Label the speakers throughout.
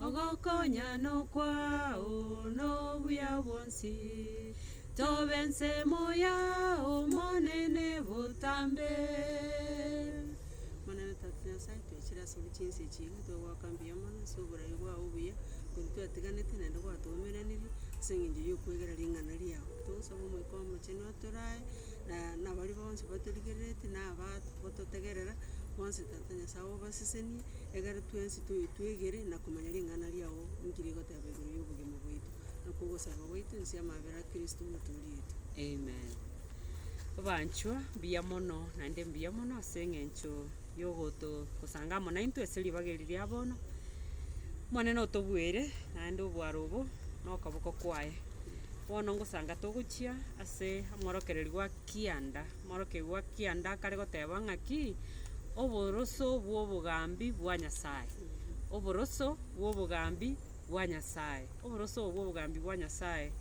Speaker 1: Ogokonya nokwao nobuya bwonsi, tobe ensemo yao Omonene botambe. Omonene Tata Nyasae, toichire ase obwo chinse echi igwe, togoaka mbuya mono ase oborai bwao obuya, korwa twatiganete naende gwatoumeranirie, ase engencho yokwegera ring'ana riao. Togosaba Omoika Omochenu atorae, na- nabaria bonsi batorigererete, na abatotegerera, bonsi. Tata Nyasae obasesenie, egere twensi tobe twegere na komanya ring'ana riao ninki rigoteba igoro y'obogima bwaito, nakwo ogosaba gwaito inse y'amabera a Kristo Omotoori oito. Amen.
Speaker 2: Abanchwa, mbuya mono, naende mbuya mono ase eng'encho yogoto gosanga amo naintwe ase ribaga eri ria bono. Omonene otobueire naende obwaro obo na okoboko kwaye. Bono ngosanga togochia ase omworokereri gwa kianda. Omorokigwa kianda akare goteba ng'aki? Oboroso bw'obogambi bwa Nyasae. Oboroso bw'obogambi bwa Nyasae. Oboroso obo bw'obogambi bwa Nyasae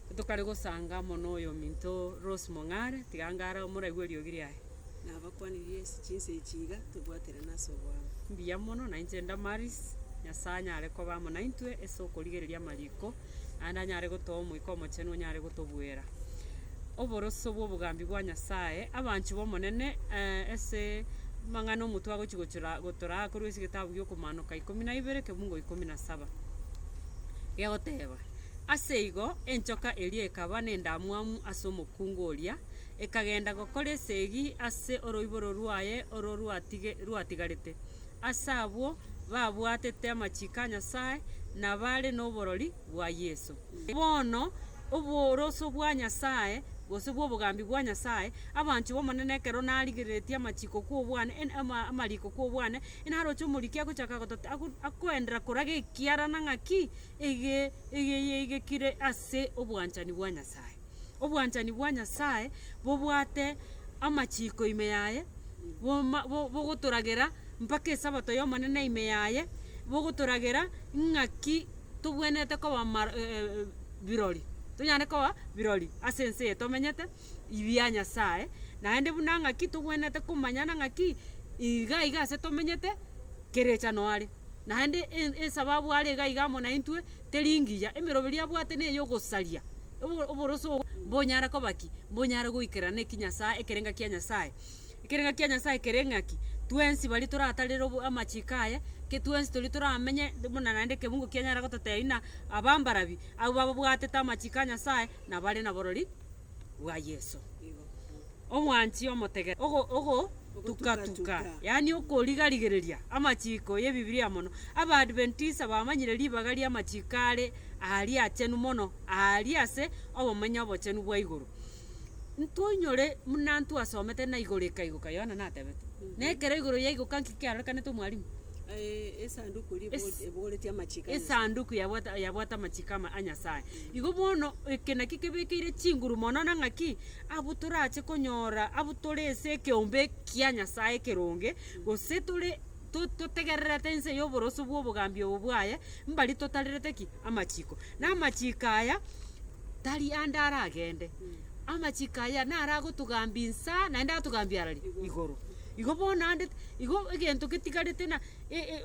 Speaker 2: ntokare gosanga mono oyominto Rose Mong'are, tiga ngare omoraiwe eriogi riaye. Nabakwanirie
Speaker 1: ase chinse echi iga tobwaterane ase oboamo. Mbuya mono, nainche
Speaker 2: Damaris, Nyasae anyare koba amo naintwe ase okorigereria amariko naende anyare gotoa Omoika Omochenu onyare gotobuera oboroso bw'obogambi bwa Nyasae. Abanchwa b'Omonene, eh, ase amang'ana omotwe agochia gochora gotoraa korwa ase egetabu gi'okomaanoka ikomi na ibere ekebugo ikomi na saba, gegoteba, Ase igo enchoka eria ekaba nendamwamu ase omokungu oria, ekagenda gokora esegi ase oroiboro rwaye oro rwatige rwatigarete. Ase abwo babwatete amachiko a Nyasae, na bare noborori bwa Yeso. Bono oboroso bwa Nyasae, gose bw'obogambi bwa Nyasae, abanchwa b'Omonene ekero narigereretie amachiko kw'obwane, en- ama- amariko kw'obwane, inaroche omoriki agochaka gotata, ago- akoendera koraga ekiarana ng'aki ege- egeiaigekire ase obwanchani bwa Nyasae. Obwanchani bwa Nyasae bobwate amachiiko ime yaye, boma bo bogotoragera mpaka esabato y'Omonene ime yaye, bogotoragera ng'aki tobwenerete koba mar- e- e- e birori, tonyare koba birori ase ense eye tomenyete ibi ya Nyasae, naende buna ng'aki tobwenerete komanyana ng'aki iga iga ase tomenyete kera echa noare. Naende esababu are iga iga amo naintwe teri ngiya, emeroberi abwate neye ogosaria oboroso obo mbonyare koba ki? Mbonyare goikerera neki Nyasaye ekerenga kia Nyasaye. Ekerenga kia Nyasaye kere ng'aki? Twensi baria toratarere obo amachiko aye, ke twensi toria toramenye buna naende ekebungo kianyara gototebia buna abambarabi, abwo bababwatete amachiko a Nyasaye nabare naborori. bwa Yeso. Omwanchi omotegete ogo ogotuka-tuka, yaani okoriga-rigereria amachiko y'Ebibilia mono. Abaadventista bamanyire ribaga ri'amachiko are aaria achenu mono aaria ase obomenyo obochenu bwa igoro. Ntoinyore muna ntwasomete na igoro ekaigoka, Yohana natebete. Na ekero igoro yaigoka nki kiarorekanete omwalimu? Eh, esanduku
Speaker 1: ribu- Es- ebogoretie amachiko a Nyasaye. esanduku yabwata
Speaker 2: yabwate amachiko ama- a Nyasaye. Igo bono, eke nakio kebekeire chinguru mono na ng'aki abwo torache konyora abwo tore ase ekeombe kia Nyasae ekeronge, gose tore to- totegererete inse y'oboroso bw'obogambi obo bwaye, mbari totarerete ki? Amachiko. Na amachiko aya tari ande aragende, amachiko aya naragotogambia insa, naende atogambie ara ri? Igoro. Igo bono ande, igo egento getigarete na.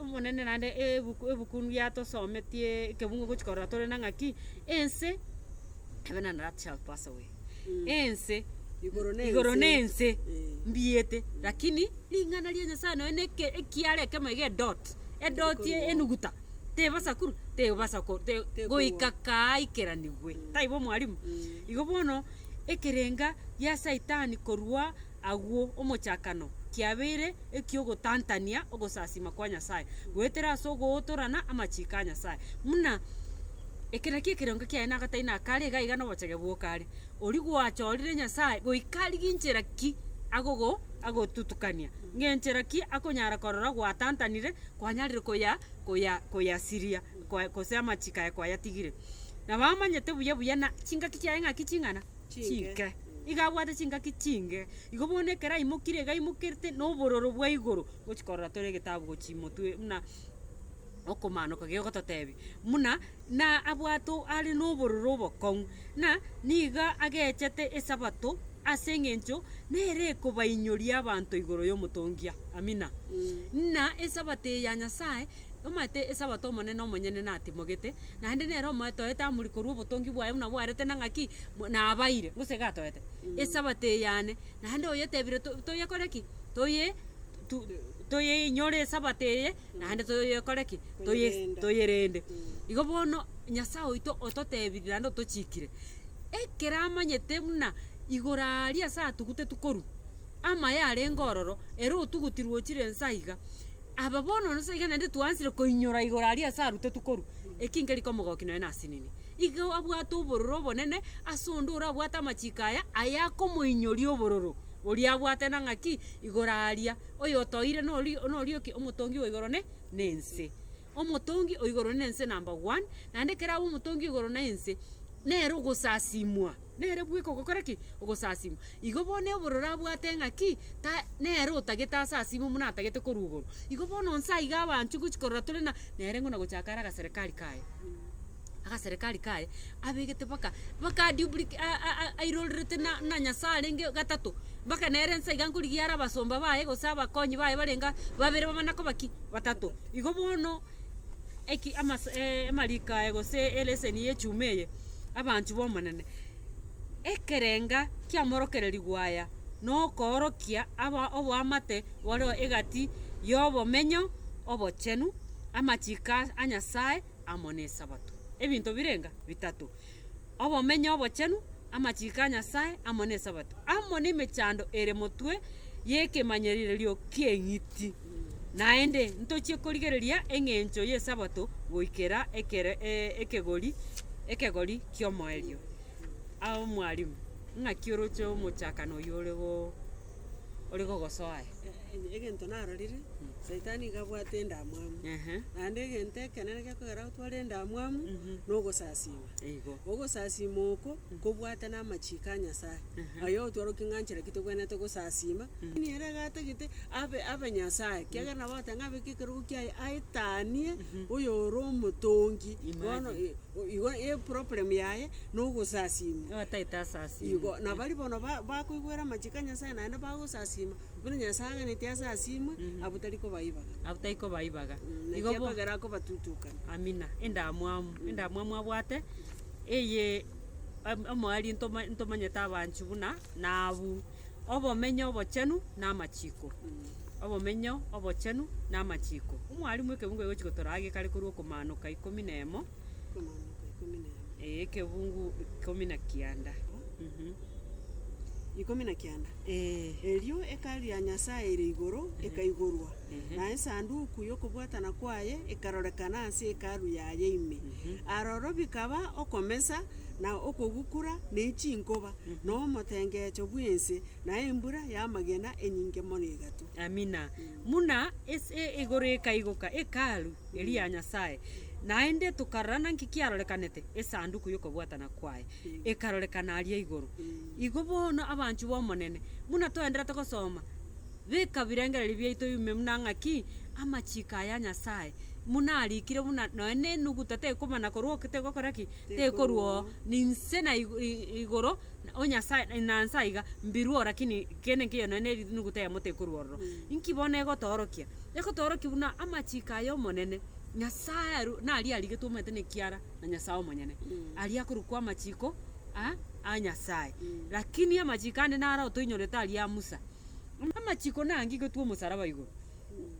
Speaker 2: Omonene naende ebokunu biatosometie ekebungo gochia korora tore na ng'aki ense heaven and earth shall pass away ense Igoro na igoro na ense. ense mbiete lakini ring'ana ria nyasaye nonya na eke- ekiara ekemo iga edot edot ye enuguta tebasa korwa tebasa ko te goika kaa aikeranigwe taibo mwarimu igo bono ekerenga gia saitani korwa. Agwo omochakano kiabeire eki'ogotantania ogosasima kwa Nyasae goetera ase ogootorana amachiiko a Nyasae, buna, Eke nakio ekerengo kiaye na agatari na akare, iga iga nobochege bw'okare. Oria gwachorire Nyasae goika rigia inchera ki agogo agotutukania, ng'enchera ki akonyara korora gwatantanire kwanyarire koya koya koyasiria kwa gose amachiiko aye kwayatigire. Nabo amanyete buya buya na chingaki chiaye ng'aki ching'ana. chinke. Iga abwate chingaki chinge. Igo bono ekero aimokire iga aimokerete na obororo bwa igoro gochi korora tore egetabu gochi motwe buna okomaanoka gegototebia buna na abwate o are na obororo obokong'u na niga agechete esabato ase eng'encho nere ekobainyoria abanto igoro y'omotongia. Amina. Muna esabato eye ya Nyasaye, omanyete esabato omonene omonyene natimogete. Naende nere omoetoete amori korwa obotongi bwaye buna bwarete na ng'aki, mo nabaire, gose iga atoete, esabato eyane, naende oyetebire to toyekore ki, toye tu toyeinyore esabato eye, naende toyekore ki, toye Toyerende. toyerende. Igo bono, Nyasae oito ototebiri naende otochikire, ekero amanyete buna igoro aria ase atuguteti korwa. amaye arenge ororo, ere otuguti rwochire inse aiga, aba bono nonye iga naende twaanchire koinyora igoro aria ase arutwa tokorwa, eki nkerika omogoki nonye nase inini. Iga abwate obororo obonene ase onde orabwate amachiko aya, aya akomoinyoria obororo oria abwate na ng'aki, igoro aria, oyotoire nori nori oki? Omotongi wa igoro ne nense. Omotongi o igoro na ense number one, naende ekero abe omotongi o igoro na ense, nere ogosasimwa, nere bweka ogokora ki? Ogosasimwa. Igo bono obororo abwate ng'aki, ta nere otagete asasime buna atagete korwa igoro. Igo bono nse aiga abanchwe gochia korora tore na, nere ng'o nagochaka are agaserekari kaye. agaserekari kaye abegete baka baka duplica a- a- a- airorerete na na nyasaye arenge gatato, baka nere ense iga nkorigia are abasomba baye gose abakonyi baye barenga babere bamana koba ki, batato. Igo bono eki amase amariko aya gose eleseni ya echuma eye, abanto b'omonene, ekerenga kiamorokereriwa aya nokoorokia aba oboamate bore egati yobomenyo obochenu, amachiko a nyasaye. amo n'Esabato. Ebinto birenga bitato, obomenyo obochenu, amachiko a Nyasae, amo n'Esabato, amo nemechando ere motwe y'ekemanyererio ki'eng'iti. Naende ntochie korigereria eng'encho y'Esabato goikera ekero ekegori ekegori ki'omoerio. Ao mwarimu, ng'aki oroche omochakano oyio ore ore gogosoa aye. Eeh, egento
Speaker 1: narorire, saitani iga abwate endamwamu, Ehe. naende egento ekenene gekogera gotware endamwamu, na ogosasiima. Eigo. Ogosasiima oko, nkobwate na amachiiko a Nyasae, aye otwarokia ng'a nchera ki tokwenerete gosasiima, lakini ere iga atagete abe abe Nyasae, ekiagera nabo agote ng'a abeke ekerogo kiaye aetanie oyo ore omotongi, bono Imagine. eh. Igo e problem yaye nogosasiima. Nigo ataete asasiime.
Speaker 2: Igo, na baria bono
Speaker 1: ba- bakoigwera amachiko a Nyasaye naende bagosasiima, buna Nyasaye aaganetie asasiimwe, abwo tari kobaibaga. Abwo tari kobaibaga. Igo Naki bo- akogera akobatutukana. Amina, endamwamu,
Speaker 2: endamwamu abwate, eye, omoerio ntoma- ntomanyete abanchu buna, na abwo. Obomenyo obochenu namachiko. Obomenyo obochenu namachiko. Omwalimu ekebungo egochi gotoraa gekare korwa okomanoka ikomi na emo. Okomanoka ikomi na emo. Ee ekebungu ikomi na kianda. Mhm. Ikomi na kianda. Ee. Erio ekari ya Nyasaye ere igoro ekaigorwa, na esanduku y'okobwatana kwaye ekarorekana ase Hekalu yaye ime. Aroro bikaba okomesa na okogukura, ne chinkoba, na omotengecho bw'ense, na embura y'amagena enyinge mono egatwa. Amina. Buna ase igoro ekaigoka Hekalu eria ya Nyasae, naende tokarora naki kiarorekanete, Esanduku y'okobwatana kwaye ekarorekana aria igoro. Igo bono abanchwa b'Omonene, buna toenderete gosoma, beka birengererio biaito ime buna ng'aki amachiko aya Nyasae, buna arikire buna nonya nenuguta tekobana korwa oke tegokora ki? tekorua oo, ninse na igu- i- i- igoro, na- o Nyasae, na nse aiga, mbirue oo, rakini kende nkeiyo nonye ne erinuguta yamo tekorua ororo. Inki bono egotoorokia? Egotoorokia buna amachiko aya Omonene, Nyasae aru naria arigetwe omanyete na ekiara na Nyasae omonyene. Aria akorokwa amachiko a a Nyasae. Rakini amachiko ande naro otoinyorete aria a Musa. Amachiko naagigetwe omosaraba igoro,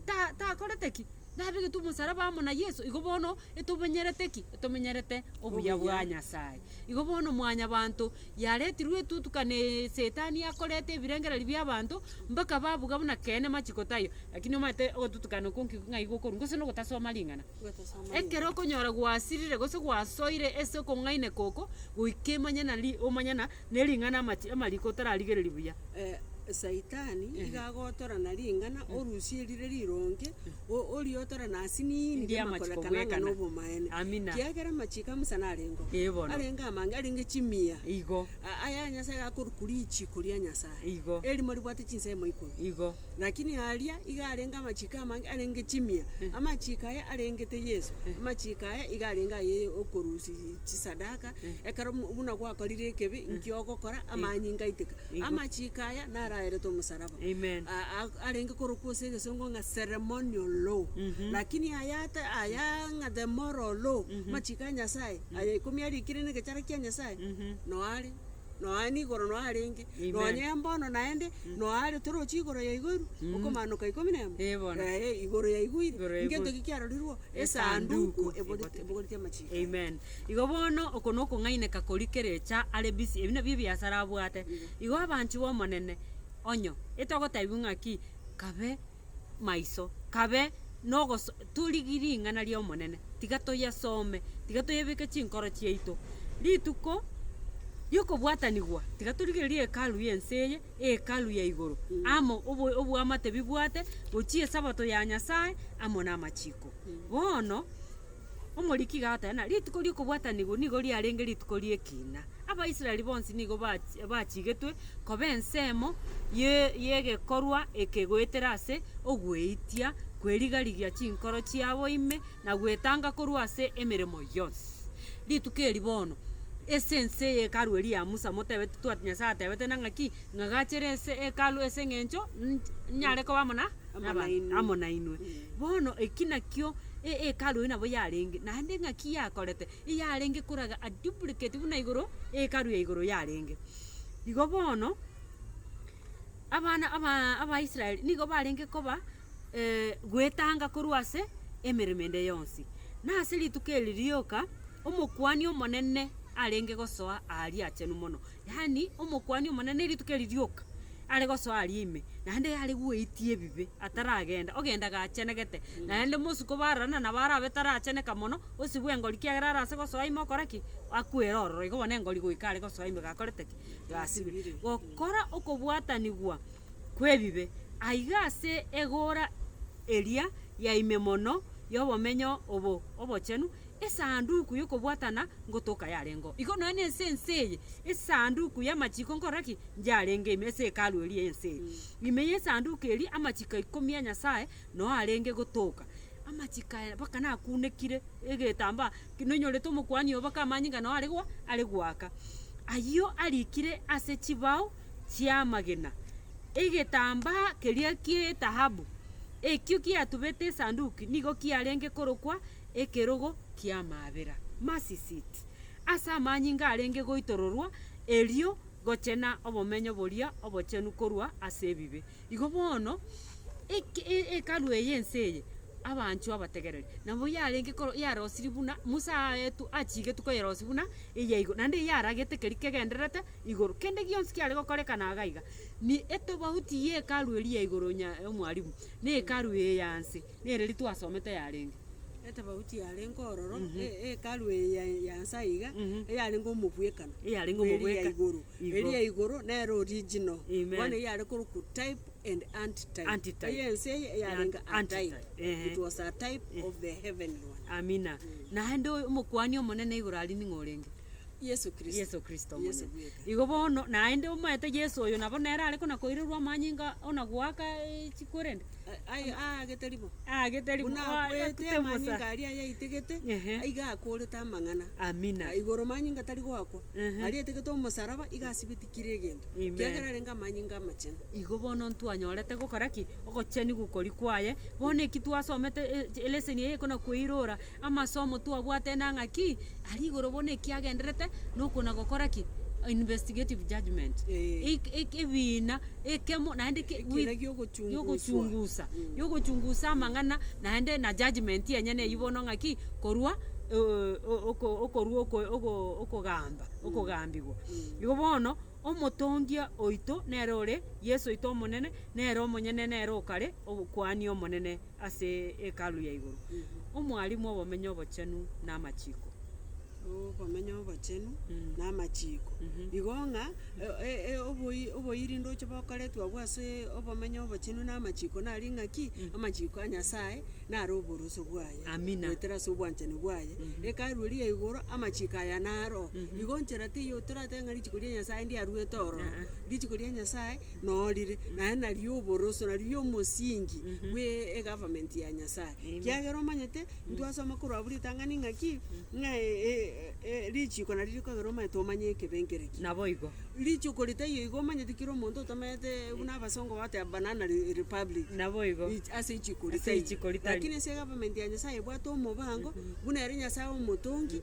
Speaker 2: ta takorete ki? Nabegetwe omosaraba amo na Yeso, igo bono etomenyerete ki? Etomenyerete obuya bwa Obuya. Nyasaye. Igo bono Mwanyabaanto yaretirwe etutukana eye Setani akoreta ebirengererio bi'abaanto mpaka babuga buna keene machiko taiyo. Lakini omanyete ogotutukana okwo nki ng'ai gokorwa? Gose nogotasoma ring'ana. Gotasoma Ekero okonyora gwasirire gose gwasoire ase okong'aina koko, goika emanye nari omanye na Ne ring'ana amache amariko otararigereria buya.
Speaker 1: Saitani iga agotora na ring'ana orusie rire rironge, o- oriotore na asiniini Engiya rire amachiko makorekana ng'a bwekana. nobomaene. Amina. Kiagera amachiko a Musa narengeo, Ee bono. arenge amange, arenge chimia. Igo. A- Aya
Speaker 2: Nyasaye
Speaker 1: akorwa korichiiko ria Nyasaye. Igo. Erimo ribwate chinsemo ikomi. Igo. Lakini aria iga arenge amachiiko amange arenge chimia, amachiiko aya arengete Yeso, amachiiko aya iga arenge aye okorusia chisadaka, ekero buna gwakorire ekebi, inki ogokora? Amanyinga aiteka. Amachiiko aya naro aeretwe omosaraba. Amen. A- a- arenge korokwa ase egesongo ng'a ceremonial law. Lakini aya ata- aya ng'a the moral law, amachiiko a Nyasaye, aye ikomi arikire negechara kia Nyasaye, noyo are nonya nigo oro nonya arenge, Amen. nonya mbono naende, nonya are toroche igoro ya igoro eru, okomaanoka ikomi na emo, Eh, bono. eh, igoro ya igoro ire, Igoro ya igoro. ngento ki kiarorirwe? Esanduku Esanduku eboreti- ebogoretie amachiko. Amen. Igo
Speaker 2: bono oko nokong'aineka koria kerecha are busy, ebi nabio ebiasara abwate. Igo abanchiwa Omonene, onyo, etogotebiwa ng'aki, kabe. maiso, kabe nogoso torigi ring'ana ri'Omonene, tiga toyesome, tiga toyebeke chinkoro chiaito. Rituko ri'okobwatanigwa, tiga torigererie hekalu y'ense eye, hekalu ya igoro, amo obo- oboamate bibwate, gochia Esabato ya Nyasae amo namachiko. Bono. Omoriki gateena, Rituko ri'okobwatanigwa nigo riarenge rituko ri'ekiina. Abaisraeli bonsi nigo bachigetwe koba ensemo y'egekorwa eke goetera ase ogweitia kwerigarigia chinkoro chiabo ime na gwetanga korwa ase emeremo yonsi. Rituko eri bono ase ense y'Hekalu eria ya Musa motebeti twati Nyasae atebete nang'aki? Ng'a gachere ase Hekalu ase engencho ninyare koba amo na. Amo naba- nainwe. amo nainwe Mm. bono eki nakio e- ekaru eye nabo yarenge naende ng'aki yakorete eyarenge koraga a duplicate buna igoro ekaru ya igoro yarenge igo bono abana abaa abaisraeli nigo barenge koba goetanga korwa ase emeremo ende yonsi. Na ase rituko eri rioka, omokuani omonene arenge gosoa aria achenu mono. Yaani, Omokuani Omonene rituko eri rioka are gosoa aria ime, naende yare gweitia ebibe ataragenda, ogenda gachenegete, naende mosuko bararana nabo arabe taracheneka mono, osibu engori kiagera arase gosoa ime okora ki? Akwere ororo. Igo bono engori goika are gosoa ime gakorete ki? Gasibire. Gokora okobwatanigwa kw'ebibe. Aiga ase egoora eria ya ime mono y'obomenyo obo obochenu. Esanduku y'okobwatana ngotoka yarengeo igo nonya nense ense eye, esanduku y'amachiko nkora ki? Yarenge ime ase Hekalu eria ense eye. Ime y'esanduku eria amachiko ikomi a Nyasaye noo arenge gotoka, amachiko aya mpaka nakunekire egetambaa ki noinyorete omokuani oo mpaka amanyinga noo are gwa are gwaka. Ayio arikire ase chibao chi'amagena, egetambaa keria ki'etahabu ekio kiatubete esanduki nigo kiarenge korokwa. ekerogo ki'amaabera, mercy seat, ase amanyinga arenge goitororwa erio gochena obomenyo boria obochenu korwa ase ebibe. Igo bono eke- e- Hekalu eye ense eye abanchwa abategereri nabo yarenge koro yarosirie buna Musa aetu achigetwe koyerosia buna eyaigo, naende eyio yaragete keri kegendererete igoro. Kende gionsi kiare gokorekana iga iga, ni etobauti ye Hekalu eria ya igoro nya omwarimu na Hekalu eye ya nse. Nere ritwasomete yarenge. Etafauti yarenge ororo, e- Hekalu eye ya- ya Nyasaye iga, eyarenge omobwekano. Eyarenge bw'eria ya omobwekano. igoro. Igo. Eria ya igoro nere original. Amen. Bono eyio yare korokwa type and antitype. Antitype. Eye ense eye eyarenge Ant- antitype. antitype, ehe. It was a type of the heavenly one. Amina. Naende oyo- omokuani omonene igoro aria ning'o orenge? Yesu Kristo. Yesu Kristo Yesu omonyene. bweka. Igo bono, naende omaete Yesu oyo nabo nere are kona koirerwa amanyinga ona goaka eh, chikorende, A- aye- aagete ribo. aagete ribu- Buna oa- akwete akute omosa. amanyinga aria ayaitegete, Ehe. aiga akorete amang'ana. Amina. Na igoro manyinga tari goakwa, Ehe. aria aitegete omosaraba, iga asibitikire egento. Amen. Kiagera arenge amanyinga amachenu. Igo bono ntwanyorete gokora ki? Ogochenu gokori kwaye. Bono eki twasomete eh, chi- eleseni eye ekona koirora. Amasomo twabwate nang'a ki aria igoro bono ekiagenderete nokona gokora ki? Investigative judgement. Eh. Eg- eg- Ebiina ekemo naende ki- Ekina with- giogochunguswa. giogochungusa giogochungusa amang'ana naende na judgement yenyene eyio bono ng'a ki korwa eh, o- oko- okorwa oko- ogo- okogamba okogambigwa. Igo bono omotongia oito nere ore Yeso oito Omonene, nere omonyene nere okare obokuani omonene. ase Hekalu ya igoro, Omwalimu obomenyo obochenu na amachiko.
Speaker 1: Obomenyo obochenu na amachiko. Igo ng'a e- e- e- oboi- oboiri ndoche bokoretwe agwo ase obomenyo obochenu na amachiko nari ng'a ki, amachiko a Nyasaye naro oboroso bwaye. Amina. Goetera ase
Speaker 2: obwanchani
Speaker 1: bwaye. Hekalu eria ya igoro, amachiko aya naro. Igo nchera teiyo toratebe ng'a richiko ria Nyasaye ndiaruete ororo. Richiko ria Nyasaye. norire, naye nario oboroso, nario omosingi bwe egovernment ya Nyasaye. Kiagera omanyete, ntwasoma korwa abwo ritang'ani ng'aki, ng'a e- e- e- richiko nario rikogera omanyete omanye ekebe nkere ki. Naboigo.
Speaker 2: Richiko ritaiyo
Speaker 1: igo omanyete kera omonto otameete buna abasongo bateba banana re- republic. Naboigo. Ri-
Speaker 2: ase richiko Ase ritaiyo.
Speaker 1: richiko ritari. Lakini
Speaker 2: ase egovernment ya
Speaker 1: Nyasaye ebwate omobango, buna ere Nyasaye omotongi.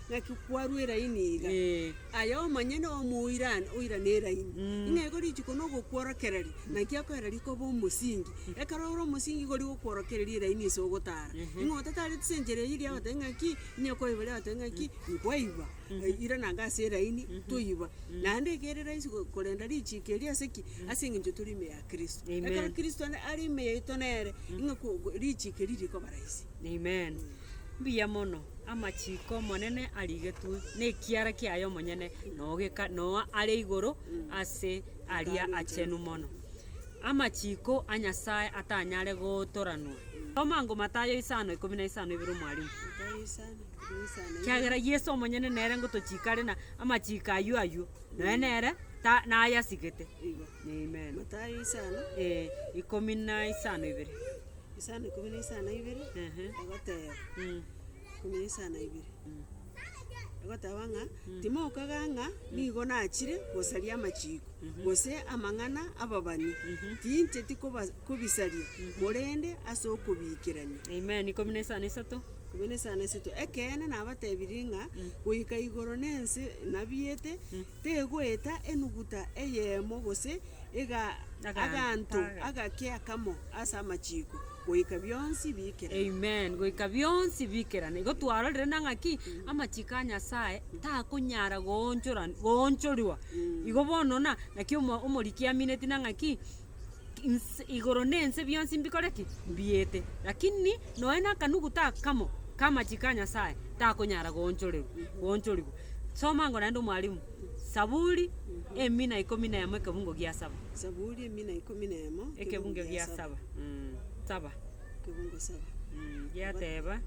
Speaker 1: Naki kwarwa eraini iga, aye omonyene omoirane oirane eraini, ng'a igo rituko na ogokworokereria, naki akoera rikoba omosingi. Ekero ore omosingi igo rigokworokereria eraini ase ogotara, ng'a otatareti ase enchera eyio riagote ng'aki, onye kwaiba riagote ng'aki, nkwaiba, irana iga ase eraini, toiba. Naende iga ere rahisi go- korenda richiko erio ase ki? Ase eng'encho tore ime ya kristo. Ekero kristo
Speaker 2: are
Speaker 1: ime yaito nere, ng'a ko- ko richiko erio rikoba rahisi. Amen.
Speaker 2: Mbuya mono, amachiko Omonene arigetwe, na ekiara kiaye omonyene nogeka noa are igoro ase aria achenu mono. Amachiko a Nyasae atanyare gootoranwa. Soma ango Mathayo isano ikomi na isano ibere omwalimu. Kiagera Yeso omonyene nere ngotochikare na amachiko ayio ayio, noe nere ta nayasigete.
Speaker 1: Amen. Matayo
Speaker 2: isano
Speaker 1: Ee. ikomi na
Speaker 2: isano ibere.
Speaker 1: Isano ikomi na isano ibere, Ehe. egoteba, Mm. ikomi na isano ibere, egoteba ng'a, timokaga ng'a nigo nachire gosaria amachiko, gose amang'ana ababani, tincheti koba- kobisaria, korende ase okobiikerania. Amen. Ikomi na
Speaker 2: isano isato. Ikomi na isano
Speaker 1: isato, ekeene nabatebirie ng'a, goika igoro na ense nabiete, Tegoeta enuguta eyemo gose ega aganto agake akamo ase amachiko, goika bionsi biikerane. Amen. Goika
Speaker 2: bionsi biikerane. Igo twarorire na ng'aki amachiko a Nyasae takonyara goonchora goonchorwa. Igo bono na naki omo omoriki amineti na ng'aki. Inse, igoro na ense bionsi mbikore ki? Mbiete. Lakini nonya na akanuguta akamo k'amachiko a Nyasae takonyara goonchorerwa, goonchorigwa. Soma ango naende omwalimu. Saburi, emina ikomi na emo ekebungo gia saba. Saburi emina ikomi
Speaker 1: na emo Ekebungo gia saba.
Speaker 2: Mm, saba. Ekebungo
Speaker 1: saba. Mm, giateba.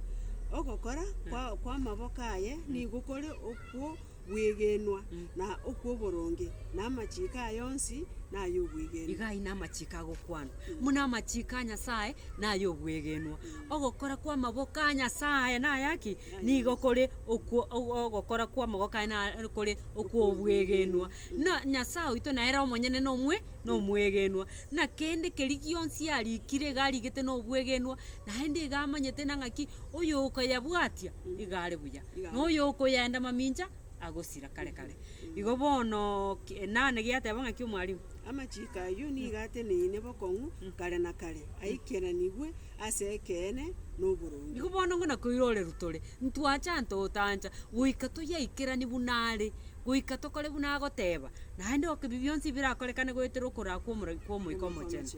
Speaker 2: Ogokora
Speaker 1: kwa- kw'amaboko aye nigo kore okwo bw'egenwa, na okw'oboronge, na amachiiko aye onsi nay'obwegenwa. Iga aye namachiiko
Speaker 2: agokwanwa, buna amachiiko a Nyasae nay'obwegenwa. Ogokora kw'amaboko a Nyasae nayaki? Nigo kore okwo o- ogokora kw'amaboko aye na kore okw'obwegenwa. Na Nyasae oito nere omonyene nomwe nomwegenwa, na kende keria gionsi arikire iga arigete nobwegenwa, naende iga amanyete na ng'aki oyokoyebwatia iga are buya. na oyokoyenda mamincha agosira kare kare. Igo bono ki- enane giateba ng'aki omwalimu? Amachiko ayio
Speaker 1: nigo ateneine bokong'u kare na kare, aikeranigwe ase ekeene na oboronge. Igo bono ng'o nakoirorerwa
Speaker 2: tore, ntwachantotancha, goika toyaikeranie buna are. goika tokore buna agoteeba, naende oke bionsi birakorekane goetera okoraa kw'omoragi kw'Omoika Omochenu.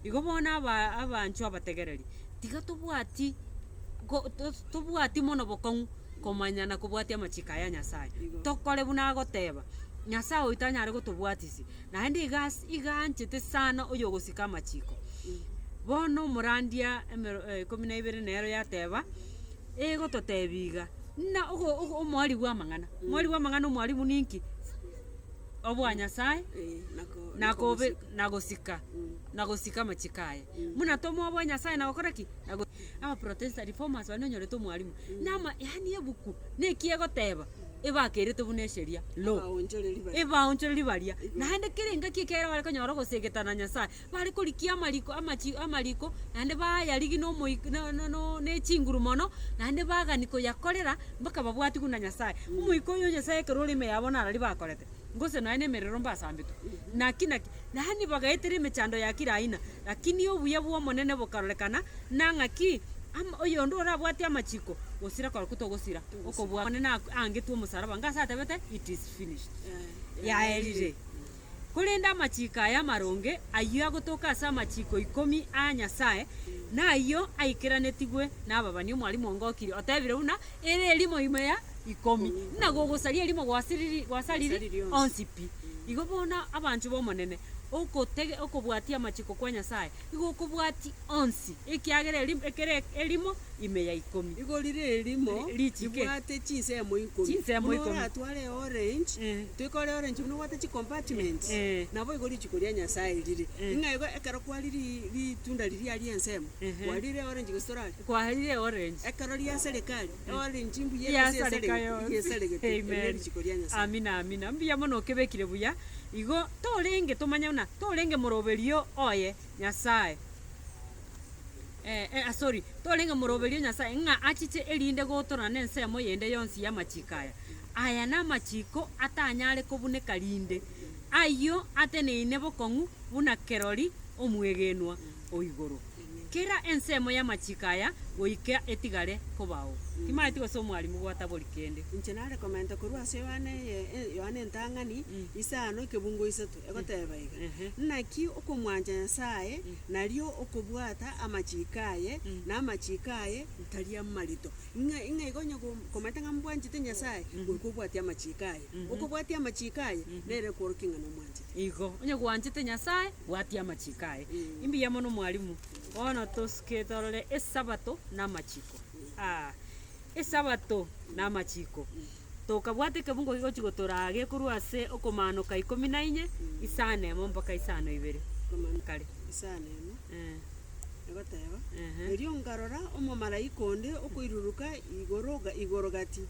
Speaker 2: Igo bono aba abanchwa abategereri, tiga tobwati go tos tobwati mono bokong'u komanya na kobwatia amachiko aya Nyasae, tokore buna agoteeba, Nyasae oito anyare gotobwatisi, naende iga as iga anchete sana oyogosika amachiko. Bono omorandia emero ikomi na ibere nero yateeba. egototebi iga, muna ogo- ogo omoari bw'amang'ana, omoari bw'amang'ana omwarimu ninki? Obwa Nyasaye na kobe na gosika na gosika amachiko aye. Muna tomoa obwa Nyasaye na gokora ki? Na go abaprotesta reformers baria nonyorete omwarimu, na ama yaani ebuku na eki egoteba ebakerete buna esheria, law, ebaonchoreri baria, naende kera engaki ekero bare konyora ogoseegeta na Nyasaye. bare korikia amariko amachi amariko, naende baayarigi na omoik na na no ne chinguru mono, naende bagani koyakorera mpaka babwatigwe na Nyasae. Omoika oyo Nyasae ekero ore ime yabo naro riba akorete, gose nonya na emerero mbasambetwe. Naki naki, yaani bagaetera emechando ya kira aina, lakini obuya bw'Omonene bokarorekana, na ng'aki ama oyonde orabwate amachiko, gosira koraku togosira okobua Omonene ak angetwe omosalaba, ngase atabete, It is finished, yaerire. Korende amachiiko aya amaronge, ayio agotoka ase amachiiko ikomi a Nyasae, nayio aikeranetigwe nababani. Omwalimu onge o Kiri otebire buna ere erimo ime ya ikomi, ng'a gogosaria erimo gwasiriri, gwasariri onsi pi. Igo bono abanchwa b'Omonene, okotege, okobwatia amachiiko kwa Nyasae. Igo okobwati onsi, ekiagera erimo ekero erimo ime ya ikomi. Igo rire erimo
Speaker 1: richike. ribwate chinsemo ikomi. Chinsemo Buna ikomi. oratware eorange, Eh. toikore orange buna obwate chicompartments, Eh, eh. nabo igo rituko ria Nyasaye rire. Eh. Ng'a igo ekero kwari ri- ritunda riria ri'ensemo, Ehe. kwarire eorange gose torari? Kwarire eorange.
Speaker 2: Ekero riaserikari Amina,
Speaker 1: amina. Mbuya mono
Speaker 2: okebekire buya. Igo torenge tomanye buna torenge moroberio oye Nyasaye eh sorry torenge moroberio Nyasaye ng'a achiche erinde gotorana ne ensemo yende yonsi y'amachiko aya. Aya namachiko atanyare kobuneka rinde, ayio ateneine bokong'u buna kerori omwegenwa o igoro. Kera ensemo y'amachiko aya goika etigare kobao, timaeti gose omwarimu gwatabori kende. Inche nare komenta
Speaker 1: korwa ase Yohana eye Yohana entang'ani isano ekebungo isato, egoteba iga, Naki okomwancha Nyasaye nario okobwata amachiko aye, na amachiko aye tari amarito. Ng'a ng'a iga onye ko- komaete ng'a mbwanchete Nyasaye, goika obwatie amachiko aye. Okobwatia amachiko aye, nere kworokia ng'a nomwanchete. Igo, onye gwanchete
Speaker 2: Nyasaye, Bwatia amachiko aye. Mbuya mono mwalimu. Bono tosuke torore esabato na amachiko. Ah, esabato na amachiko. Tokabwata ekebungo gigochi gotoraa gekorwa ase okomanoka ikomi na inye, isano emo mpaka isano ibere. Kare. isano emo
Speaker 1: Eh, egoteba ehe. erio nkarora omomalaika onde okoiruruka igoro ga- igoro gati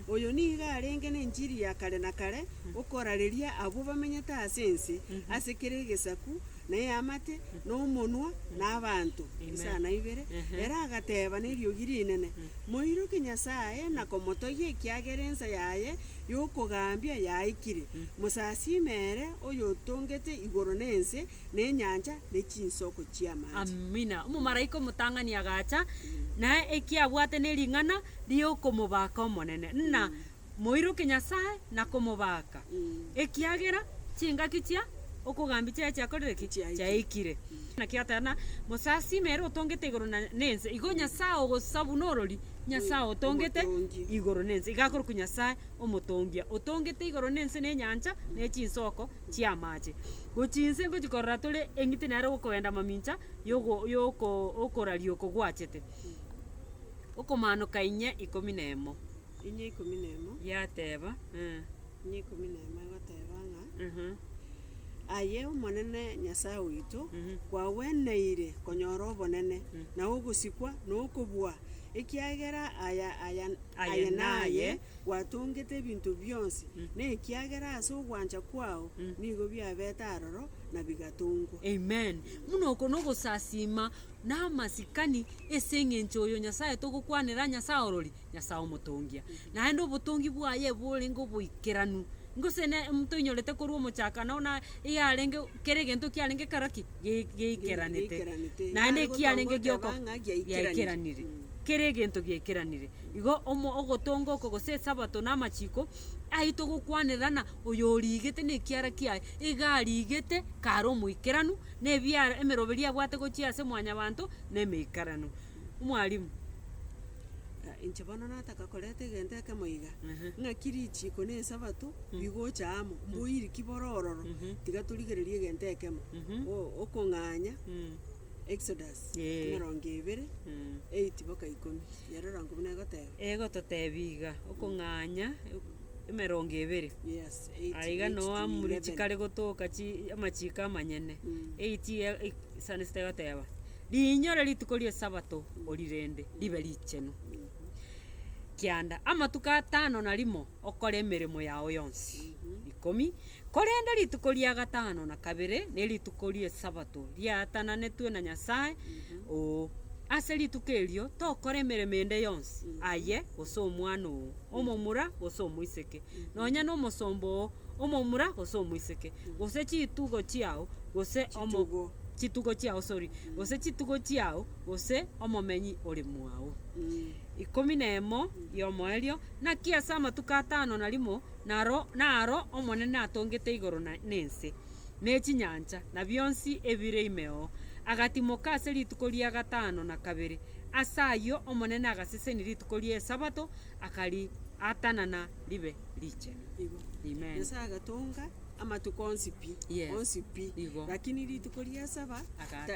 Speaker 1: oyo nigo arenge nenchiri ya kare na kare Okorareria abwo bamenyete ase ense, ase kera egesaku, na eamate, na omonwa, na abanto, isana ibere. Ere agateba neriogi rinene, Moiroke Nyasae na komotogia, ekiagera ensa yaye y'okogambia yaikire. Mosasiime ere oyotongete igoro na ense, na enyancha, ne chinsoko chi'amache. Amina. Omomalaika
Speaker 2: omotang'ani agacha, na ekiabwate nering'ana riokomobaka Omonene, na moiroke Nyasae na komobaaka, ekiagera chingaki chia okogambia chiaye chiakorire ki? Chiaikire. Naki gatana, Mosasime ere otongete igoro na nense. Igo Nyasae ogosa buna orori, Nyasae otongete igoro na ense, iga akorokwa Nyasae Omotongia, otongete igoro na ense na enyancha na echinsoko chi'amache. Gochia inse ngochia korora tore eng'iti nere ogokogenda amamincha yogo yoko okoraria oko gwachete. Okomanoka inye ikomi na emo. Inye ikomi na emo. Yateba, Eh. Inye ikomi
Speaker 1: na emo egoteba ng'a, Aha. Aye Omonene Nyasae oito, kwagweneire konyora obonene, na ogosikwa, na okobua, ekiagera aya aya aye naye gwatongete ebinto bionsi, na ekiagera ase ogwancha kwao nigo biabete aroro, na bigatongwa. Amen. Buna
Speaker 2: oko nogosasiima na amasikani ase eng'encho oyo Nyasae togokwanera Nyasae orori. Nyasae omotongia, naende obotongi bwaye borenge oboikeranu, gose ne toinyorete korwa omochaka nao na eyarenge kera egento kiarenge kero ki? Ge- geikeranete. Geikeranete. Naende Naende ekiarenge goteba gioko ng'a giaikeranire. giaikeranire, kera egento giaikeranire. Igo omo ogotonga oko gose esabato na amachiko, aye togokwanerana oyo origete na ekiara kiaye, iga arigete kare omoikeranu, na ebiara emeroberi abwate gochia ase mwanyabanto na emeikaranu. Mwalimu,
Speaker 1: ah inche bono nataka koreta egento ekemo iga, Ehe. ng'aki richiko na esabato bigocha amo, mboiri ki bore ororo, tiga torigererie egento ekemo, Mhm. o- okong'anya Mm. Exodus Eh. emerongo ebere, Mm. eight boka ikomi, ere orangwa buna egoteba. Egototebia iga,
Speaker 2: okong'anya emerongo ebere. Yes,
Speaker 1: eight, Aiga eight to noamuri
Speaker 2: eleven. chikare gotoka chi amachiko amanyene. Mm. Eight iga i- sande sete egoteba. Riinyore rituko ri'Esabato orirende ribe richenu. Kianda amatuko atano na rimo okore emeremo yao yonsi. Ikomi. Korende rituko ria gatano na kabere nerituko ri'Esabato riaatananetwe na Nyasae, oo, ase rituko erio tokora emeremo ende yonsi, aye, gose omwana oo, omomura, gose omoiseke, nonya nomosomba oo, omomura gose omoiseke, gose chitugo chiao, gose omo- Chitugo. chitugo chiao, sorry, gose chitugo chiao, gose omomenyi ore mwao. Ikomi na emo y'omoerio, naki ase amatuko atano na rimo naro naro Omonene atongete igoro na na ense, ne chinyancha, na bionsi ebire ime oo. Agatimoka ase rituko ria gatano na kabere. Ase ayio Omonene agasesenia rituko ri'Esabato, akariatanana ribe richenu. Amen. Nyasaye agatonga
Speaker 1: amatuko onsi pi, Yes. onsi pi. Igo. Lakini rituko ria saba Akaatanana.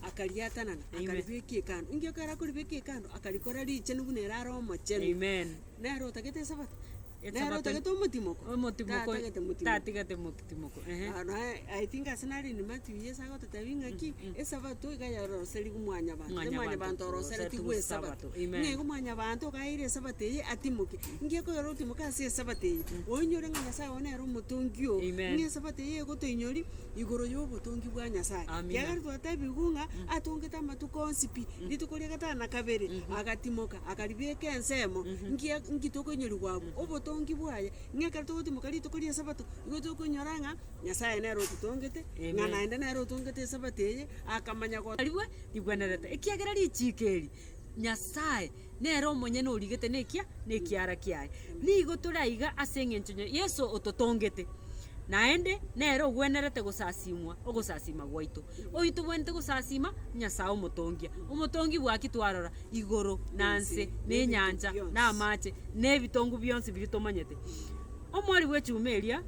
Speaker 1: ta- akariatanana, Amen. akaribeka ekando. Inki ekero akoribeka ekando, akarikora richenu buna ere are omochenu. Amen. Nere
Speaker 2: otagete
Speaker 1: esabato? Esabato- Nere otagete omotimoko? Omotimoko Tatagete motimoko.
Speaker 2: tatigete moki. Timoko ehe. Aro I
Speaker 1: think ase nare in Matthew Yeso agototebi ng'aki, Esabato iga yaroroserigwe mwanyabanto, Mwanyabanto mwanyabanto oroseretigwe oroseretigwe Esabato. Esabato, amen. Nigo mwanyabanto okaeire Esabato eye atimoke. Nki ekoyora otimoke ase Esabato eye? Oinyore ng'a Nyasae one nere omotongi oo. Amen. Ng'a Esabato eye egotoinyori igoro yobotongi bwa Nyasae. Amina. Kiagera twatebiwu ng'a atongete amatuko onsi pi. Rituko ria gatano na kabere agatimoka akaribeka ensemo. Nki nki tokoinyoriwa abwo? Obotongi bwaye Ng'a ekero togotimoka rituko ri'Esabato, nigo tokonyora ng'a Nyasae nere ototongete, ng'a naende nere otongete Esabato eye, akamanya go. Rikorwa rigwenerete,
Speaker 2: ekiagera richiiko eri Nyasae nere omonyene origete nekia nekiara kiaye. Nigo tore aiga ase engencho ya Yeso ototongete, naende nere ogwenerete gosasimwa ogosasima gwaito. Oyotobwenerete gosasima, Nyasae omotongia, omotongi bwa ki twarora? igoro na nse, na enyancha, na amache, na ebitongu bionsi biria tomanyete. Omori bw'echuma eria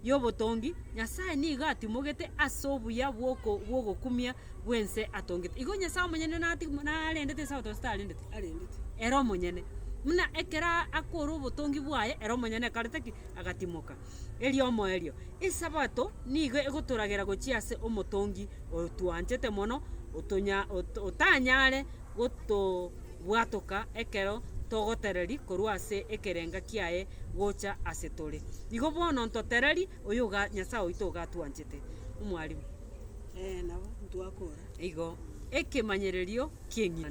Speaker 2: y'obotongi, Nyasae nigo atimogete ase obuya bw'oko- bw'ogokumia bw'ense atongete. Igo Nyasae omonyene nati- narendete Esabato gose tarendeti? Arendeti. Ere omonyene. Buna ekero a- akore obotongi bwaye, ere omonyene akarete ki? Agatimoka. eriomoerio. Esabato nigo egotoragera gochia ase Omotongi otwanchete mono, otanyare gotobwatoka ekero togotereri korwa ase ekerenga kiaye gocha ase tore. Igo bono ntotereri oyo Nyasae oito ogatwanchete. Omwarimu.
Speaker 1: Igo
Speaker 2: ekemanyererio ki'eng'ina.